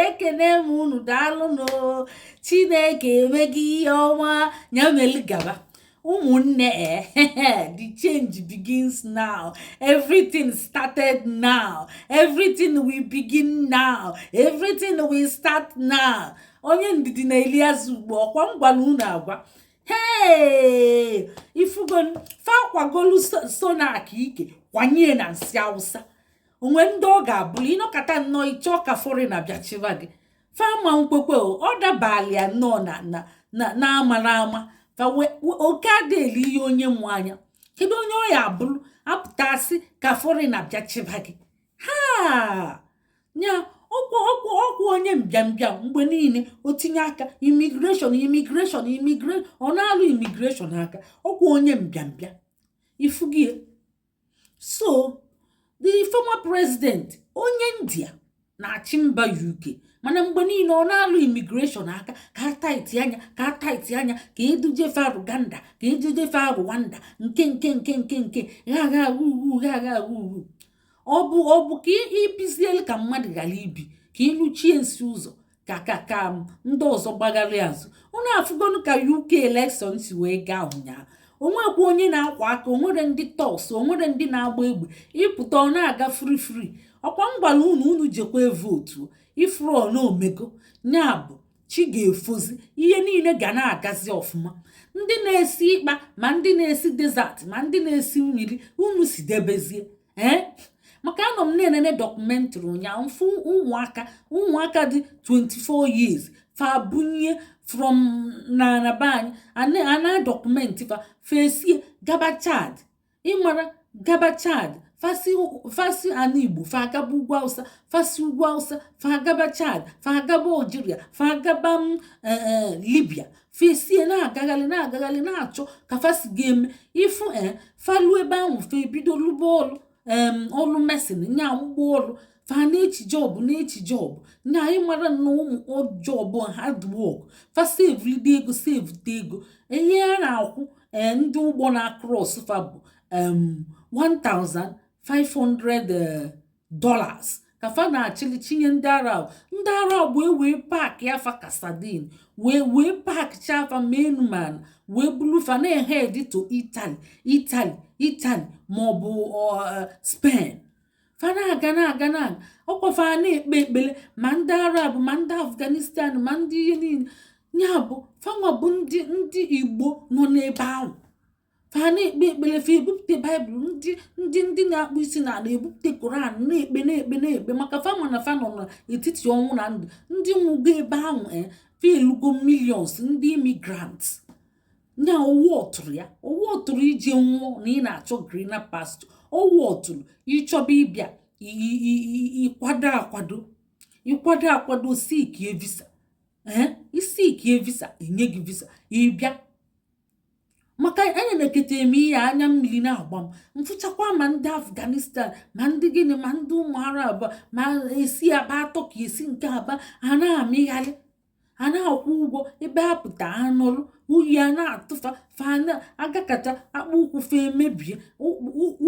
ekene m unu daalụnụ chineke emego ihe ọma nya melu gaba ụmụnne the change begins now everything started now everything will begin now everything will start now onye ndidi na-eli azụ ukpo ọkwa m gwara unu agwa hee ifugo fa akwagolu sunak ike kwanye na nsị awụsa onwe ndị ọ ga-abụrụ ịnọkata nnọọ ịchọọ ka fọrịna bịa chịba gị fama nkwekwe ọ dabala ya nnọọ na na na amara ama fa oke adịghị eli ihe onye mụ anya kedu onye ọ ya abụrụ apụta sị ka fọrịna bịa chịba gị ha nya ọkwa ọkwa ọkwa onye mbịambịa mgbe niile o tinye aka imigreshọn imigreshọn imigreshọn ọ na-alụ imigreshọn aka ọkwa onye mbịambịa ifugie so the former president onye india na-achị mba uk mana mgbe niile ọ na-alụ imigreshọn aka ka a taitia nya ka a taitia nya ka eduje fa ruganda ka eduje fa rwanda nke nke nke nke nke gha gha ugwu gha gha ugwu ọ bụ ọ bụ ka ibizielu ka mmadụ ghara ibi ka ịlụchie nsị ụzọ ka ka ka ndị ọzọ gbagharị azụ unu afụgonu ka uk elekshọn si wee gaa ụnyaahụ onwekwa onye na-akwa aka onwere ndị tọgs onwere ndị na-agba egbe ịpụta ọ na-aga fri fri ọkwa m gwara unu unu jekwa vootu ifuru na o mego ya bụ chi ga-efozi ihe niile ga na-agazi ọfụma ndị na-esi ikpa ma ndị na-esi dezat ma ndị na-esi mmiri unu si debezie ee maka anọ m na-enene dọkụmentrị ụnyaahụ m fụ ụmụaka ụmụaka dị 24 years fa bunye from na na be anyị a na-adọkụmentị fa fe esie gaba chad ịmara gaba chad fa si fa si ana igbo fa agaba ugwu awụsa fa si ugwu awụsa fa agaba chad fa agaba algeria fa agaba mm, eh, eh, libya fe esie na-agagharị na-agagharị na-achọ ka fa si ga-eme ịfụ ee eh, fa lu ebe ahụ fe ebido lụba ọlụ ọlụ mesin nya abụ ọgbọ ọlụ fa na-eche jọbụ na-eche jọbụ nya anyị mara na ụmụ ọjọbụ hard work fa sevulide ego sevute ego ihe a na-akwụ eh, ndị ụgbọ na-akros fa bụ 1500 dollars ka fa na-achịli chinye ndị arab ndị arab wee wee paakịa fa ka sadin wee wee paakịcha fa menman wee bulu fa na-ehedi to itali itali itali maọbụ eh, spen fa na-aga na-aga na ọkwa fa na-ekpe ekpere ma ndị arab ma ndị afghanistan ma ndị ihe niile ya bụ fa nwa bụ ndị ndị igbo nọ n'ebe ahụ fa na-ekpe ekpele fa ebupụta baịbụl ndị ndị ndị na-akpọ isi na ala ebupụta koran na-ekpe na-ekpe na-ekpe maka fa ma na fa nọ n'etiti ọnwụ na ndụ ndị nwụgo ebe ahụ e fa elugo millions ndị immigrant na ọ worthụrọ ya ọ worthụrọ ije nwụọ na ị na-achọ greener pasture ọ worthụrọ ị chọba ịbịa ị kwado akwado ị kwado akwado seekie visa ee i seekie visa enye gị visa ị bịa maka enenekete m ihe a anya mmiri na-agba m m fụchakwa ma ndị afghanistan ma ndị gịnị ma ndị ụmụ arab ma esi aba atọ ka esi nke aba a na-amịgharị a na-akwụ ụgwọ ebe a pụta anọrọ oyi a na-atụ fa fa na-agakata akpụ ụkwụ fa emebie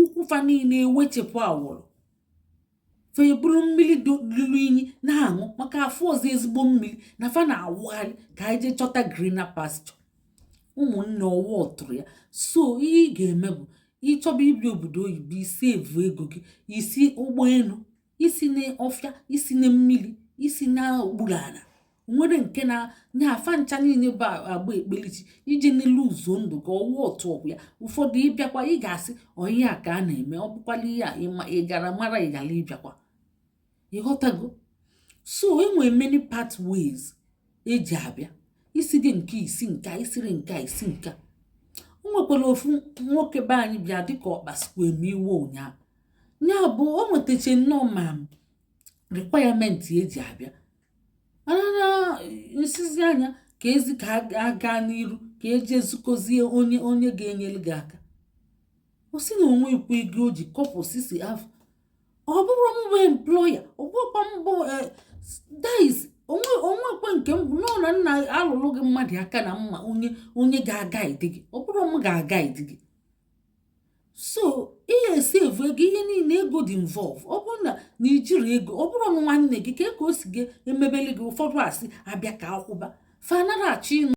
ụkwụ fa niile ewechepụ awọrọ fa eburu mmiri lụrụ inyi na-aṅụ maka afụrọzi ezigbo mmiri na fa na-awagharị ka anyị jee chọta greener pasture ụmụnne ọ worthụrọ ya so ihe ị ga-eme bụ ị chọba ịbịa obodo oyibo i save ego gị i si ụgbọelu esina ọfịa esina mmiri esina okpuru ala nwere nke na fa ncha niile bụ agba ekpelichi iji na-elose ndụ gị ọ worthụrọ ya ụfọdụ ịbịakwa ị ga-asị onye a ka a na-eme ọ bụkwala ihe a ị gara mara ị gara ịbịakwa ị ghọtago so enwere many pathways eji abịa i sighị nka i si nka i sirọ nka i si nka o nwekwara ofu nwoke be anyị bịa dịka ọ kpasukwa m iwe ụnyaahụ ya bụ o nwetacha nnọọ ma requirement eji abịa mana nsizi anya ka ezi ka a gaa n'iru ka eje zukọzie onye onye ga-enyere gị aka ọ sị na o nwe ikwu ego o ji kọpụ sisi afọ ọ bụrụ m bụ employer ọ bụkwa m bụ eh, that is onwe onwekwe nke m nọ na nna alụrụ gị mmadụ aka na mma onye onye ga-aguide gị ọ bụrụ m ga-aguide gị so ị ga-esave ego ihe niile ego dị involve ọ bụrụ na na i jirọ ego ọ bụrụ na nwanne gị ka ka o si gị emebeli gị ụfọdụ asị abịa ka akwụba fa anarọ achọ